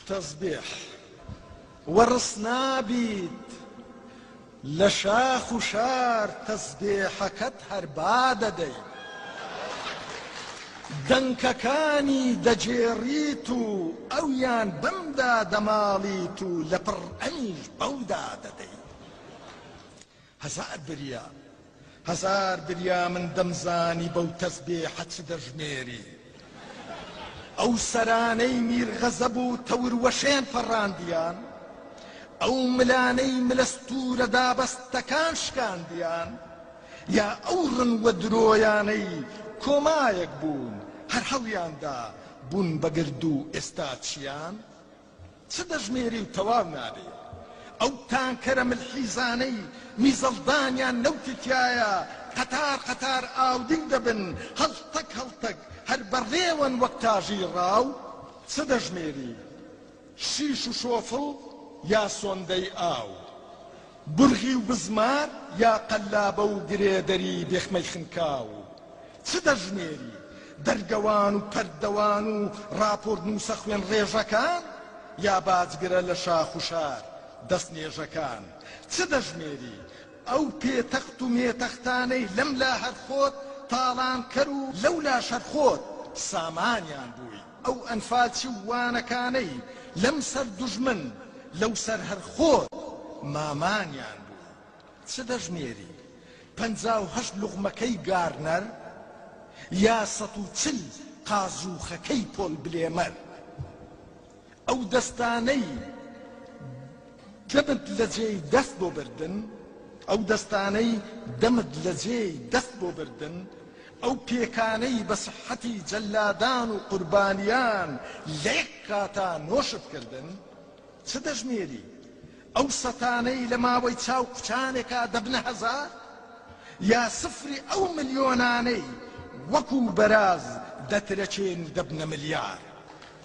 تەزبێح وەڕس نابیت لە شاخ و شار تەزبێحەکەت هەر با دەدەی دەنکەکانی دەگێڕیت و ئەویان بەمدا دەماڵیت و لە پڕ ئەنیش بەودا دەدەی هەزار بریا هەزار بریا من دەمزانی بەو تەسبێحە چ دەژمێری ئەو سەرانەی میر غەزەب و تەور وەشێن فەڕاندیان ئەو ملانەی ملە ستوورە دابەستەکان شکاندیان یا ئەو ڕن و درۆیانەی کۆمایەک بوون هەر هەڵیاندا بوون بە گردوو ئێستا چیان چ دەژمێری و تەواو نابێ. ئەو تانکەرە ملحیزانەی میزەڵدانیان نەوتی تیایە قەتار قەتار ئاودیو دەبن هەڵتەک هەڵتەک هەر بە ڕێوەن وەک تاژی ڕاو چ دەژمێری شیش و شۆفڵ یا سۆندەی ئاو. بورغی و بزمار یا قەلابە و گرێدەری بێخمەی خنکاو و چ دەژمێری دەرگەوان و پەردەوان و ڕاپۆرتنووسە خوێنڕێژەکان یا باجگرە لە شاخ و شار دەستنێژەکان چ دەژمێری ئەو پێتەخت و مێتەختانەی لەملا هەر خۆت تاڵانکەر و لەولاش هەر خۆت سامانیان بووی. ئەو ئەنفالچ و وانەکانەی لەم سەر دوژمن لەو سەر هەر خۆت مامانیان بوو چ دەژمێری پەنجا و هەشت لوغمەکەی گارنەر یا سەد و چل قازووخەکەی پۆل بلێمەر ئەو دەستانەی دەمت لە جێی دەست بۆ بردن ئەو دەستانەی دەمت لە جێی دەست بۆ بردن ئەو پێکانەی بە سیحەتی جەلادان و قوربانیان لە یەک کاتا نۆشت کردن، چ دەژمێری؟ ئەو سەتانەی لە ماوەی چاو کوچانێکا دەبنە هەزار؟ یا سفری ئەو ملیۆنانەی وەکو بەراز دەترەکێن و دەبنە ملیار؟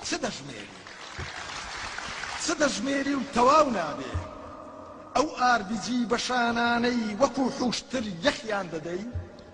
چ دەژمێری؟ چ دەژمێری و تەواو نابێ؟ ئەو ئاربیجی بەشانانەی وەکو حوشتر یەخیان دەدەی؟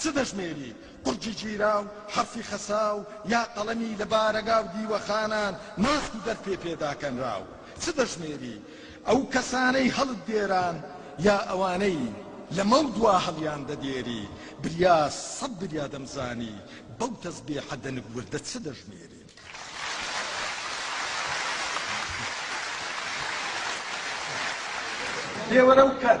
چ دەژمێری قورگی گیراو، حەرفی خەساو، یا قەڵەمی لە بارەگا و دیوەخانان ناسک و دەرپێ پێ داکەنراو؟ چ دەژمێری ئەو کەسانەی هەڵت دێران، یا ئەوانەی لەمەودوا هەڵیان دەدێری؟ بریا سەد بریا دەمزانی بەو تەزبێحە دەنک وردە چ دەژمێری؟ دێوەرە و کەر.